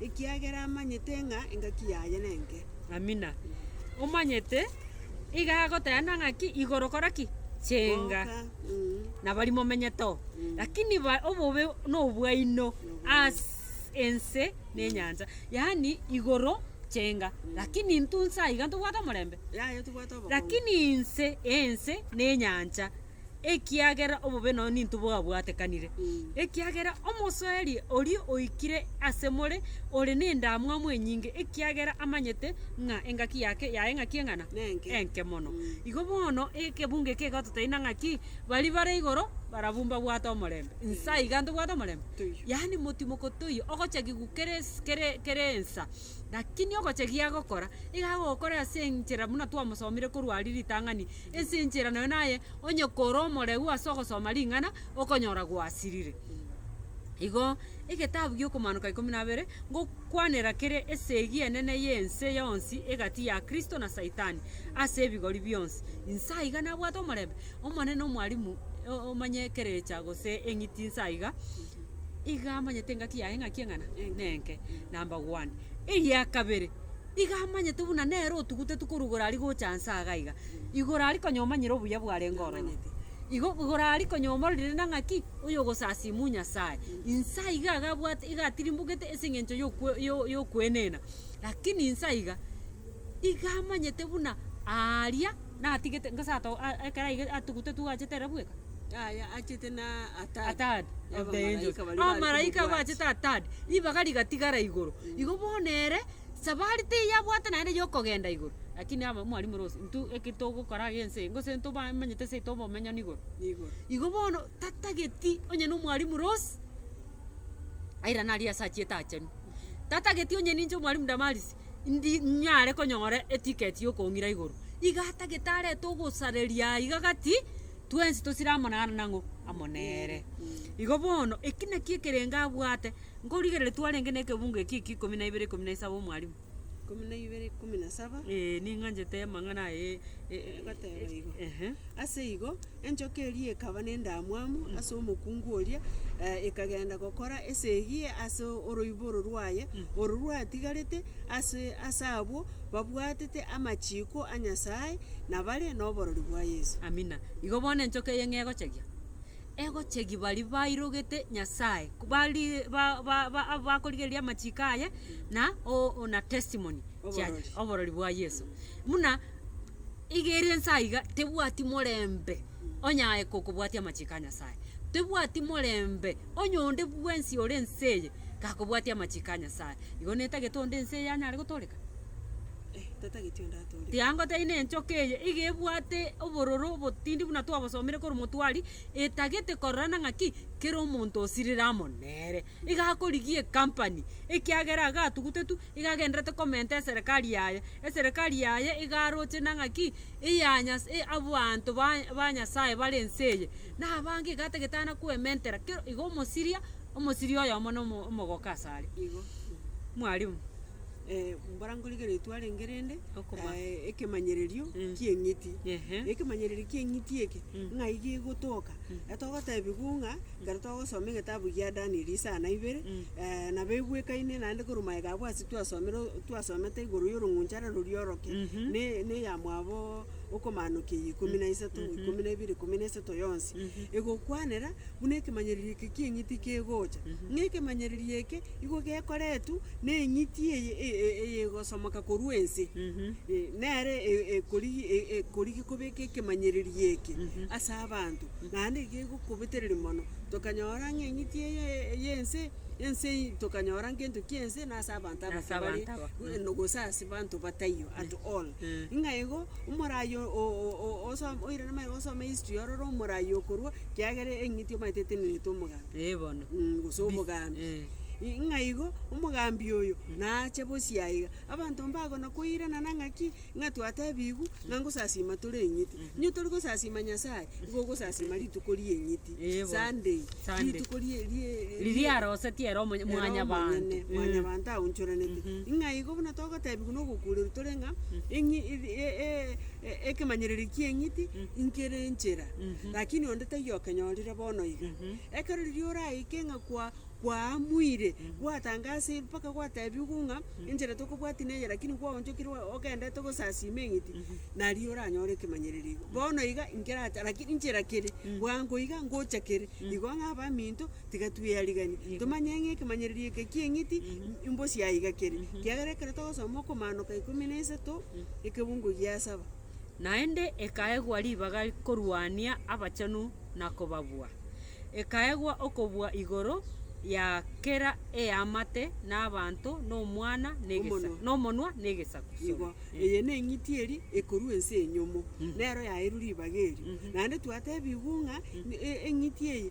Speaker 1: Ekiagera amanyete ng'a engaki yaye nenke. Amina.
Speaker 2: Omanyete, iga agoteana ng'aki igoro kora ki? Chenga. Goka. Mm. Nabari momenyete oo. Lakini ba- obobe nobwaino as ense nenyancha. Yaani igoro chenga. Lakini intwe nsa iga ntobwate omorembe. Yaye tobwate obokongo. Lakini inse ense nenyancha. ekiagera obobe nonye nintwe bwabwatekanire, ekiagera omosoeri oria oikire ase more ore nendamwamu enyinge, ekiagera amanyete ng'a engaki yake yaye ng'aki eng'ana? Nenke. enke mono. Igo bono ekebungo eke egototeina ng'aki, baria bare igoro barabwo mbabwate omorembe, nse aiga ntobwate omorembe? Toiyo. Yaani motimoko toiyo, ogochagigwa kera esi kere kera ensa, lakini ogochagia agokora, iga agokore ase enchera buna twamosomire korwa aria ritang'ani. ase enchera naye naye onye kore omoreu ase ogosoma ring'ana okonyora gwasirire. Igo egetabu gi'okomanuka ikomi na abere ngokwanera kere esegi enene y'ense yonsi egati ya Kristo na Saitani ase ebigori bionsi. Inse aiga nabwate omorembe? Omonene omwalimu o- omanye ekerecha gose eng'iti inse aiga? Iga amanyete engaki yaye ng'aki eng'ana? Nenke. Number one. Eria kabere. Iga amanyete buna nere otugutetwe korwa igoro aria gocha inse aaga iga, igoro aria konya omanyire obuya bwarenge ororo. Igo igoro aria konya omororire na ng'aki oyogosasimu Nyasae. Inse aiga iga abwate iga atirimbogete ase eng'encho y'okwe yo y'okwenena, lakini inse aiga iga amanyete buna aaria natigete nka sato a ekero aige atugutetwe gwachete ere bweka. Yaya achete
Speaker 1: na a third. A third
Speaker 2: of the angels. Abamalaika baria bari Abamalaika korwa abachete a third, ribaga rigatigara igoro. Igo bono ere. Sabari teyabwate naende yokogenda igoro, lakini aba mwarimore ose intwe eke togokora age ense gose ntobamenyete ase ete obomenyani igoro. Igoro. Igo bono tatageti onye na omwarimu Rose, airane aria ase achiete aachenu, tatageti onye ninche omwarimu Damaris ndi nyare konyora etiketi ya okong'ira igoro, iga atagete arete ogosareria aa iga gati, twensi tosire amo naro nang'o, amo nere. Igo bono, eki nakio ekerengo abwate. Nkorigereria twarenge na ekebungo ekio ekio ikomi na ibere ikomi na isaba omwalimu. Ikomi na ibere ikomi
Speaker 1: na saba. Ee, ning'anchete
Speaker 2: amang'ana aye e- e- e- Egoteba
Speaker 1: igo. Ehe. Ase igo, enchoka eria ekaba nendamwamu ase omokungu oria, eh, ekagenda gokora esegi ase oroiboro rwaye, oro rwatigarete ase ase abwo babwatete amachiko a Nyasae, na bare noborori bwa Yeso. Amina. Igo bono
Speaker 2: enchoka eye ng'egochagia. egochegi baria bairogete Nyasae, bari ba- ba- ba- abakorigereria amachiko aye, na o- na testimony chia Oborori. oborori bwa Yeso. Buna iga ere ense aiga tebwati morembe onya aye kokobwatia amachiko a Nyasae, tebwati morembe onya onde bwensi ore ense eye gakobwatia amachiko a Nyasae. Igo netagete onde ense eye anyare gotoreka?
Speaker 1: Tiango taina enchoka
Speaker 2: eye iga ebwate obororo obotindi buna twabosomire korwa motwari, etagete kororana ng'aki kera omonto osirire amo nere. Iga akorigia ecompany ekiagera iga atugutetu iga agenderete komenta eserekari yaye, eserekari yaye iga aroche na ng'aki eya nyas e- abwanto ba ba Nyasaye bare ense eye. Na abange iga atagete ana koementera kero iga omosiria, omosiria oyomo na omo- omogoka asare.
Speaker 1: Mwarimu. mbora nkorigia ritwa renge rende, Okoma. eh, ekemanyererio Mm. ki'eng'iti. Ehe. Ekemanyererio ki'eng'iti eke, Mm. ng'ai gegotoka, ekero togotebiwu ng'a ekero togosoma egetabu gia Danieli isana ibere, Mm. eh, nabo ebwekaine naende korwa magega abwo ase twasomire twasomete igoro y'orong'unchare roria oroke, Mhm. ne- ne ya mwabo okomanokia eyio ikomi na isato, ikomi na ibere, ikomi na isato yonsi, egokwanera buna ekemanyererio eke ki'eng'iti kegocha. Ng'a ekemanyererio eke Igo gekoretwa neng'iti eyegosomoka korwa ense, nere ekorigia kobeka ekemanyererio eke ase abanto, naende gegokobetereria mono. Tokanyora ng'a eng'iti eye y'ense, ense eye tokanyora ngento ki'ense na ase abanto abake Ase bare, abanto abake. na gose ase abanto bataiyo at all. Ng'a igo, omorai o- o- o- oso oirana maega osome history ororo omorai okorwa, kiagera eng'iti omanyete eteneneretwe omogambi. Ee bono. Mh, gose Bi-
Speaker 2: omogambi.
Speaker 1: eh. I- ng'a igo, omogambi oyo nache bosie aiga, abanto mbagona koirana na ng'aki, ng'a twatebigwu, ng'a ngosasima tore eng'iti. Nyo tori gosasima Nyasaye, igo ogosasima rituko ri'eng'iti, Ee bono. Sunday, Sunday. rituko rie- rie- Riria
Speaker 2: arosetie ere omonye- Ere mwanyabanto. omonyene, Mm. mwanyabanto
Speaker 1: aonchoranete. Ng'a igo buna togotebigwa na ogokureru tore ng'a, eng'i- e- e- e- e- ekemanyererio ki'eng'iti nkere enchera. lakini onde taiyo okenyorire bono iga. Ekero riria oraike ng'a kwa- kwaamuire, gwatangasire mpaka gwatebiwu ng'a enchera tokobwati neye lakini kwaonchokire oa- ogendete gosasiima eng'iti, nario oranyore ekemanyererio igo. Bono iga nkerache lakini enchera kere bwango iga ngocha kere, igo ng'a abaminto tiga tweariganie, tomanye ng'a ekemanyererio eke ki'eng'iti mbosi aiga kere, kiagera ekero togosoma okomanoka ikomi na isato, ekebungo gia saba. naende
Speaker 2: ekaegwa ribaga korwania abachenu na kobabua, ekaegwa okobua igoro ya kera eamate nabanto nomwana nomonwa negesaku. Igo, eye
Speaker 1: neng'iti eri ekorua ense enyomo, nero yaeirwe ribaga erio. Naende twatebigwe ng'a eng'iti eye.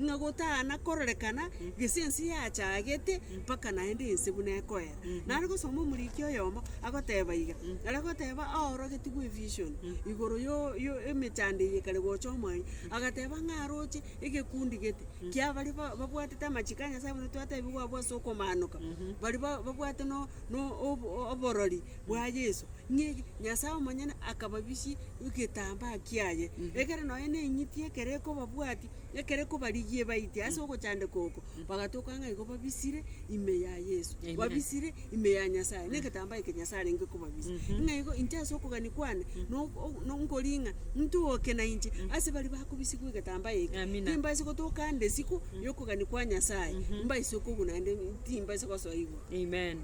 Speaker 1: Ng'a gotana kororekana gese ense yachagete, mpaka naende ense buna ekoera. Nare gosoma omoriki oyomo, agoteba iga, ara goteba aorogetigwe evision, igoro yo- yo- emechando eye ekare gocha omwanya, agateba ng'a aroche egekundi gete, kia baria ba- babwatete amachiko a Nyasaye buna twatebiwa abwo ase okomaanoka, bari ba- babwate no- no- ob- oborori bwa Yeso, ng'igi Nyasaye omonyene akababisia egetambaa kiaye, ekere nonye ne eng'iti ekere ekobabwatia. Ekero kobarigie baite ase ogochandeka oko, bagatoka ng'a igo babisire ime ya Yeso, Amen. babisire ime ya Nyasaye, na egetambaa eke Nyasaye arenge kobabisia. Ng'a igo inche ase okogania kwane, no- o- no- nkoria ng'a ntooke na inche ase baria bakobisigwa egetambaa eke, Amina. timbaisi gotoka ande isiko ya okogania kwa Nyasaye, mbaise okogwa naende timbaisi gosoa igoro. Amen.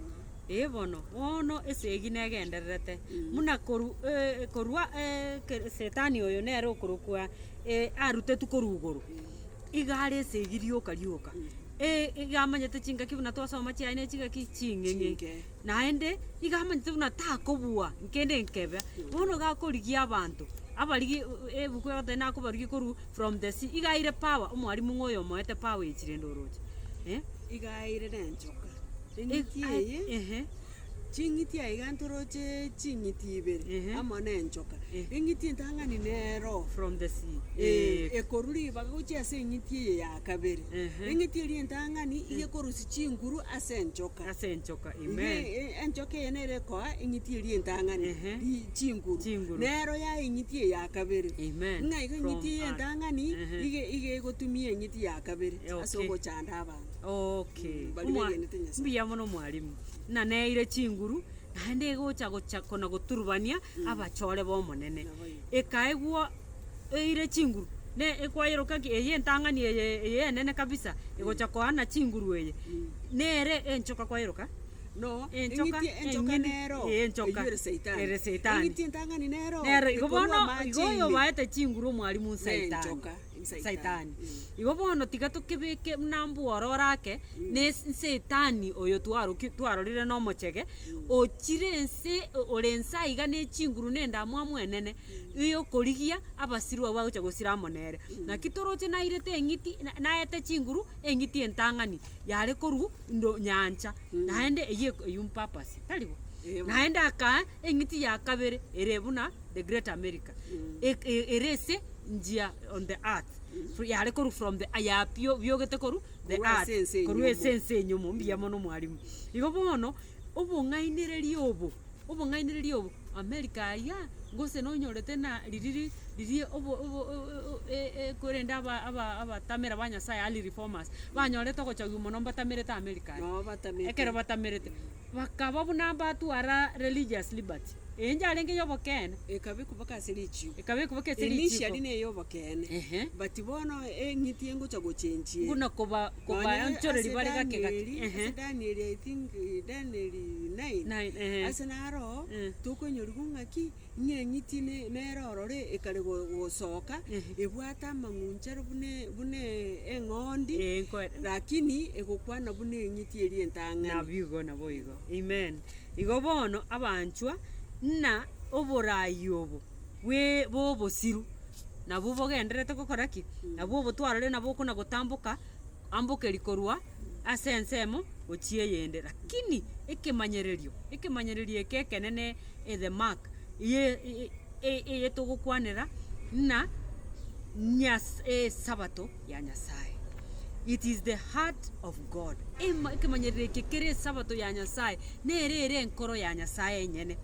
Speaker 1: Ee bono, bono
Speaker 2: esegi negendererete, muna koru- e- korwa e- ke- setani oyo nere okorokwa. eh, arutetwe korwa igoro, iga are esegi rioka rioka, eh, iga amanyete chingaki buna twasoma chiaye ne chingaki ching'eng'e, Ching'e. naende iga amanyete buna takobua nkende nkebe, bono iga akorigia abanto, abarigi eh, ebuku egoteba nakobarigia korwa from the sea, iga aire power omwarimu ng'a oyo omoete power ya chirendoroche, eh. Iga
Speaker 1: airere enchoka, Ig- eng'iti a- eye ehe. Ching'iti aigento roche ching'iti ibere Ehe. amo nenchoka, Eh. eng'iti entang'ani nero From the sea. Eh,
Speaker 2: ekorwa
Speaker 1: ribaga gochia ase eng'iti eye ya kabere Ehe. eng'iti eria entang'ani iga ekorusia chinguru ase enchoka Ase enchoka. Iga Amen. e- e- enchoka eye nere ekoa eng'iti eria entang'ani Ehe. ri- chinguru Chinguru. nero yae eng'iti eye ya kabere Amen. ng'a iga eng'iti From eye earth. entang'ani Ehe. iga iga egotumia eng'iti ya kabere Eh, ase okay. ogochanda abanto Okay. Bari Omwa- begenete Nyasaye.
Speaker 2: Mbuya mono mwalimu. ng'a neire chinguru, naende egocha gocha kona goturubania abachore b'Omonene. Ekaigwa eire chinguru, ne ekwayeroka ng'a eye entang'ani eye eye enene kabisa, egocha koana chinguru eye, nere enchoka kwayeroka? No, Enchoka
Speaker 1: eng'iti enchoka enyene. nero, Ee, enchoka. eywo
Speaker 2: ere Saitani. Ere Saitani. Eng'iti entang'ani nero, Nero
Speaker 1: igo ekorua bono,
Speaker 2: igo amache oyo ime. obaete chinguru omwarimu Saitani. Nenchoka. Saitani. Igo bono tiga tokebeke buna mbwororo ake, ne es- nsaitani oyo twaroki twarorire na omochege, ochire ense o- ore ense aiga na echinguru na endamwamu enene, eye okorigia abasiru abwo bagocha gosira amo nere. Naki toroche nairete eng'iti na- naete chinguru eng'iti entang'ani yare korwa ndo nyancha, naende eyio eko eywo mpapasi, tari bo? Eye bono. Naende akaa eng'iti ya kabere ere buna the great America, eke ere ase. njia on the earth fr- yare korwa from the yapio biogete korwa the Korwa earth, ase ense korwa enyomo. ase ense enyomo mbuya mono mwarimu. Igo bono, obong'ainereria obo, obong'ainereria obo, america aria, gose nonyorete na ririri riria obo obo o- o- e- e korende aba- aba- abatamera ba Nyasaye early reformers, banyorete ogochogiwa mono mbatamerete america aria. Nabo batamerete. Ekero
Speaker 1: batamerete.
Speaker 2: Bakaba buna mbatwara religious liberty, enchwa yarenge y'obokeene. Ekaba ekobeka ase
Speaker 1: richiiko. Ekaba ekobeka ase richiiko. Initially ne y'obokeene. Ehe. But bono eng'iti engocha gochenchie. Buna koba,
Speaker 2: koba Nonya anchoreri ase bare gake gake. Danieli, Ehe. ase Danieli I think
Speaker 1: Danieli nine. Nine, ehe. Ase naro, Eh. tokoinyorigwa ng'aki, Ing'eng'iti nere ororo ekare gosoka, ebwate amang'unchare buna eng'ondi, lakini egokwana buna eng'iti eria entang'ani. Naboigo, naboigo.
Speaker 2: Amen. Igo bono abanchwa, ng'a oboraai obo bw'obosiru nabwo bogendererete gokora ki? Nabwo obotwarorete nabwo okona gotamboka. Ambokeri korwa ase ensemo gochia eyende. Lakini ekemanyererio, ekemanyererio eke ekenene e the mark eye togokwanera na Nyas esabato ya Nyasaye. It is the heart of God. Ema ekemanyererio eke kere esabato ya Nyasaye, nere ere enkoro ya Nyasaye enyene.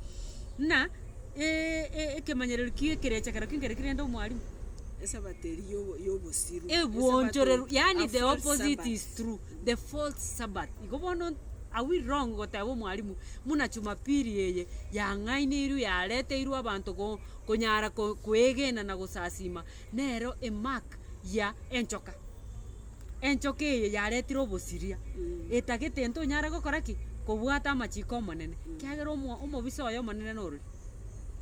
Speaker 2: Buna. e- e- ekemanyererio ki ekerecha kerokio nkere ki rende omwarimu? Esabato eria
Speaker 1: yobo- yobosiru. Egwonchoreru,
Speaker 2: Esabato yaani a the false opposite Sabbath. is true, the false Sabbath. Igo bono are we wrong goteba omwarimu muna chumapiri eye yang'aineirwe yareteirwe abanto ko konyara ko koegena na gosasima nero emark ya enchoka? enchoka eye yaretire obosiria, etagete ere ntonyare gokora ki? Kobwata amachiko Omonene, ekiagera omo omobisa oye omonene norori.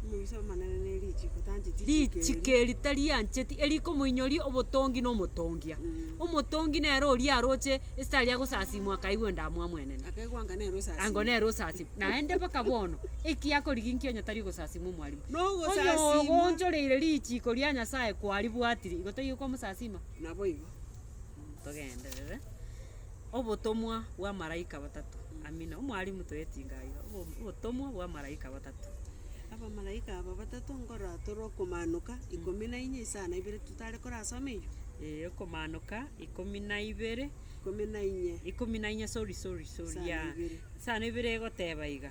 Speaker 2: Omobisa
Speaker 1: omonene ne richiko tancheti chiko erio. Richiko
Speaker 2: eri tariancheti, erikomoinyori obotongi na omotongia. Omotongi nere oria aroche esita aria agosasimwa akaigwa endamwamu mwenene. Akaigwa anga nere osasimu. Ango
Speaker 1: nere osasimu.
Speaker 2: Naende mpaka bono, ekiya akoriginkia onye tari ogosasimwa omwarimu. Nogosasimwa. Onye
Speaker 1: ogoonchoreire richiko
Speaker 2: ria Nyasaye kwaribwatiri, igo taiyo kwamosasima? Naboigo
Speaker 1: togenderere
Speaker 2: obotomwa bw'amaraika batato. Amina. Omwalimu toyetinga aiga. Obotomwa bw'amaraika batato. Abamalaika
Speaker 1: aba batato nkoratore okomanoka ikomi na inye isano na ibere totare korasoma eyio. Ee okomanoka
Speaker 2: ikomi na ibere. Ikomi na inye. Ikomi na inye sorry sorry sorry Isano na ibere. Isano na ibere egoteba iga.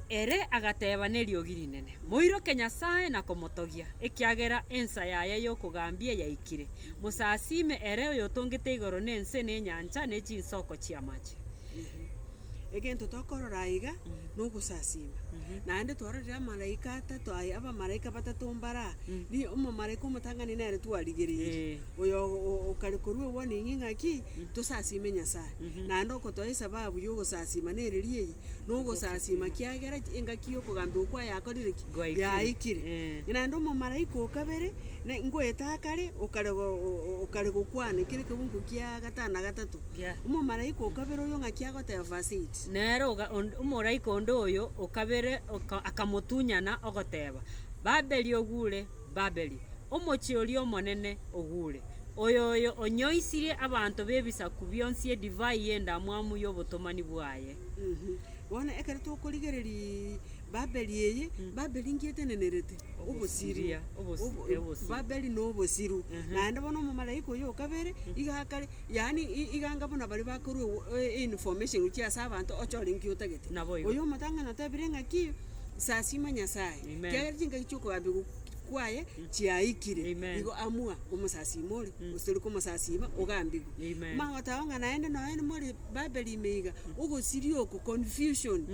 Speaker 2: ere agateba neriogi rinene, Moiroke Nyasae na komotogia, ekiagera ensa yaye y'okogambia yaikire. Mosasiime ere oyotongete igoro na ense na enyancha ne chinsoko chi'amache. Egento
Speaker 1: tokorora aiga nogosasiima. Naende twarorire amalaika atato aya, abamalaika batato mbare aa. Omomalaika omotang'ani nere twarigereirie. Oyo okaria korwa eguanigini ng'aki? Tosasiime Nyasae. Naende okotoa esababu y'ogosasiima nere ri'eye, nogosasiima kiagera engaki y'okogambia okwo ayakorire ki? Gwaikire. Yaikire. Eh. Naende omomalaika o kabere, na ngoeta akare, okare go- o- o- okare gokwana ekero ekegungu kia gatano na gatato. Gia- Omomalaika o kabere oyo ng'aki agoteba, verse eight. Nere oga- onde-
Speaker 2: omoraika onde oyo o kabere oka- akamotunyana, ogoteba, Babeli ogure, Babeli, omochie oria omonene ogure, oyoyo onyoisirie abanto b'ebisaku bionsi edivai y'endamwamu y'obotomani bwaye. Mhm. Bono
Speaker 1: ekero tokorigereria Babeli eye, Babeli nki etenenerete? Obosiru. Obosiria, obosi- Obo- eh, obosiru. Babeli na obosiru. Naende bono omomalaika oyo o kabere, iga akare, yaani i- iga anga buna baria bakorwa ew- e- information gochia ase abanto, oche ore nki otagete. Naboigo. Oyo omotang'ani otebire ng'aki. Sasima Nyasaye, Amen. kiagera chingaki chia okogabigu kwaye chiaikire, Amen. igo amua omosasima ore, gose tori komosasima ogambigwe. Amen. Mama otago ng'a naende nonye more Babeli ime iga, ogosiria oko, confusion,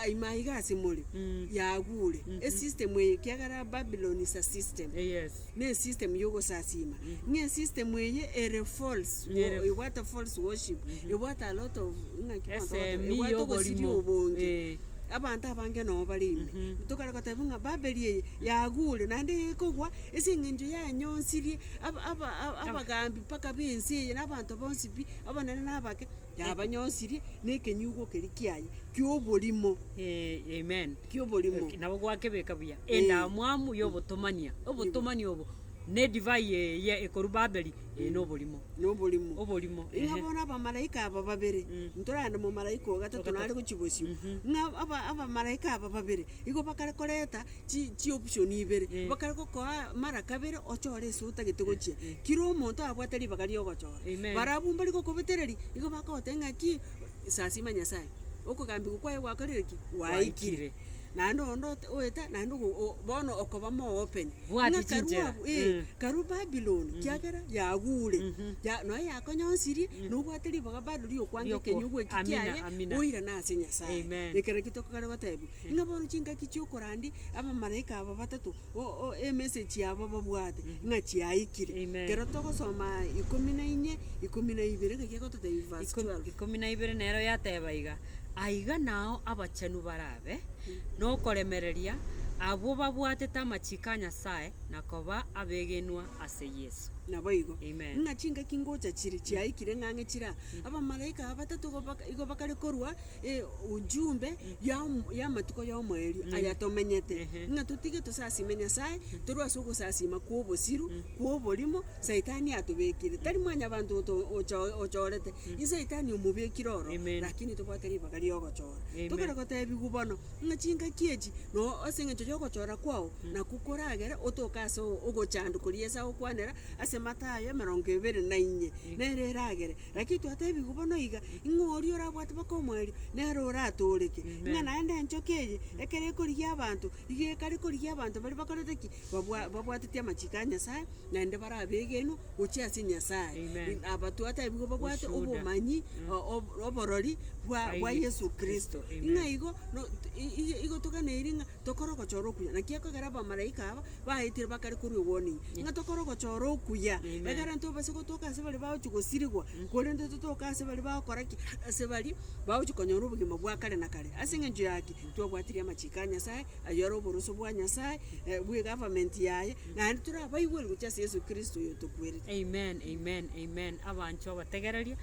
Speaker 1: ai maiga ase more, yagure. Esystem eye kiagera Babylon is a system. Yes. Ne system yogosasiima. Ng'e system eye ere false. Ere- Wo- Ebwate false worship. Ebwate a lot of ng'a ki bono Esemi togoteba, ebwate ogosiria y'oborimo. obonge. Eh. Abanto abange noo bare ime. Tokare goteba ng'a Babeli eye yagure naende ekogwa ase eng'encho yanyonsirie aba- aba- aba- abagambi mpaka b'ense eye na abanto bonsi pi, abanene na abake. Yabanyosirie nekenyugo keria kiaye ki'oborimo. Ee, amen.
Speaker 2: Ki'oborimo. Nabo
Speaker 1: gwakebeka
Speaker 2: buya endamwamu y'obotomania. Obotomani obo nedivai eye ekorwa Babeli eye noborimo. Noborimo. Oborimo, Ng'a ehe. bono abamalaika
Speaker 1: aba babere, ntorande momalaika o gatato nare gochia bosio, ng'a aba- abamalaika aba babere igo bakare koreta chi chi option ibere, Eh. bakare gokoa mara kabere ochore ase otagete gochia. Eh, eh. Kira omonto abwate ribaga riogochora. Amen. Barabwo mbare gokobetereria, igo bakogoteba ng'a ki, sasima Nyasaye, okogambigwa kwaye gwakorire ki? Gwaikire. Gwaikire. Naende onde ote oeta naende ogo o bono okoba more open. Bwati Ng'a karua chinchera. abwo, eh, Mm. karua Babiloni, kiagera yagure, Mhm. ya noe yakonyonsirie, nobwate ribaga bado riokwange Riokwa- ekenyugwa eki Amina, kiaye, amina. oirane ase Nyasaye. Amen. Ekero ki tokogera gotebiwa. Ng'a bono chingaki chiokorandi abamalaika aba batato o- o emessage yabo babwate ng'a chiaikire. Amen. Ekero togosoma ikomi na inye, ikomi na ibere ng'aki agototebia verse Iko- 12. ikomi na ibere nero
Speaker 2: yateba iga, Aiga nao abachenu barabe nokoremereria, abwo babwatete amachiko a Nyasae, na koba abegenwa ase Yeso. Naboigo. Amen.
Speaker 1: Ng'a chingaki ngocha chire chiaikire ng'ang'e chiraa. Abamalaika aba batato igo baka- igo bakare korwa. Ee, ujumbe ya omo- y'amatuko y'omoerio aya tomenyete, ng'a totige tosasime Nyasaye, torwe ase ogosasima kw'obosiru, kw'oborimo, saitani atobekire. Tari mwanyabanto oto- ocho- ochorete, i saitani omobekire oro, Amen. rakini tobwate ribaga ri'ogochora. Amen. Tokare gotebiwu bono, ng'a chingaki echi, no ase eng'encho y'ogochora kwao, naku koragere otoke ase o- ogochandwa koria Esaya okwanera, ase Matayo emerongo ebere na inye, nere eragere, Naki twateebigwa bono iga, ng'a oria orabwate baka omoerio nere oratooreke, ng'a naende enchoka eye, ekero ekorigia abanto, iga ekare korigia abanto baria bakorete ki? Babwa babwateti amachiko a Nyasae, naende bare abegenwa gochia ase Nyasae. Amen. Aba twateebigwa babwate Ushuhuda. obomanyi o- ob- oborori bwa bwa Aye. Yesu Kristo. Amen. Ng'a igo no- i- i- igo toganeirie ng'a. Tokore ogochora okuya. Naki ekogera abamalaika aba baetire bakare korwa egwoninyia, ng'a tokore ogochora okuya, egere ntobase gotoka ase baria bagochi gosirigwa, korende totoke ase baria bagokora ki? Ase baria bagochi konyora obogima bwa kare na kare. Ase eng'encho yaki twabwatirie amachiko a Nyasae, ayio are oboroso bwa Nyasae, bwe egovernment yaye, naende tore abaigweri gochia ase Yeso Kristo oyo otokwerete. Amen, amen, amen,
Speaker 2: abanchwa bategererie,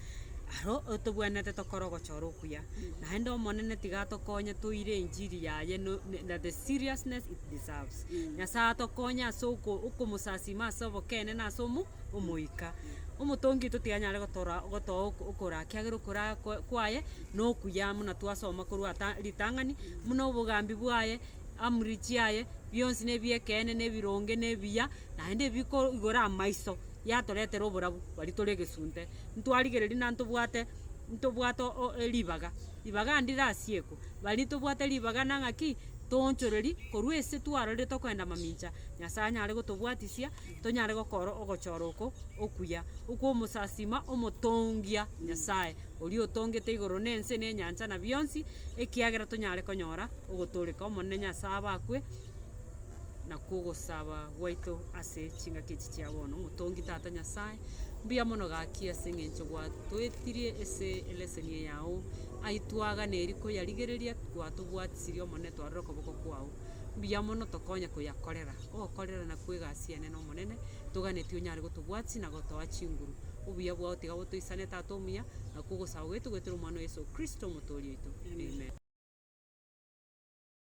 Speaker 2: aro otobwenerete tokore ogochora okuya. Naende Omonene tiga atokonye toire enchiri yaye no na the seriousness it deserves. Nyasaye atokonye ase oko okomosasima ase obokene na ase omo omoika. Omotongi oito tiga anyare gotora gotoa oko okora kiagera okora kwa kwaye na okuya muna twasoma korwa ata ritang'ani muna obogambi bwaye, amri chiaye, bionsi na ebiekeene na ebironge na ebiya, naende biko igora amaiso yatoretera oborabu baria tore egesunte. ntwarigereria na ntobwate ntobwate o- e ribaga, ribaga ande rirasiekwe, baria ntobwate ribaga na ng'aki toonchoreri korwa ase twarorire tokoenda mamincha, Nyasaye anyare gotobwatisia tonyare gokora ogochora oko okuya, okw'omosasiima omotongia, Nyasaye, oria otongete igoro na ense na enyancha na bionsi, ekiagera tonyare konyora ogotooreka Omonene Nyasae abakwe. na kogosaba gwaito ase chingaki echi chia bono. Motongi Tata Nyasae, mbuya mono gaki ase eng'encho gwatoetirie ase eleseni eye yao, ai twagana eri koyarigereria gwatobwatisirie Omonene twarora okoboko kwao. Mbuya mono tokonye koyakorera, okorere na kwegasia enene Omonene, toganeti onyare gotobwatisi na gotoa chinguru. Obuya bwao tiga botoisane Tata omuya, na kogosaba gwaito goetera Omwana o Yeso Kristo Omotoori oito. Amen.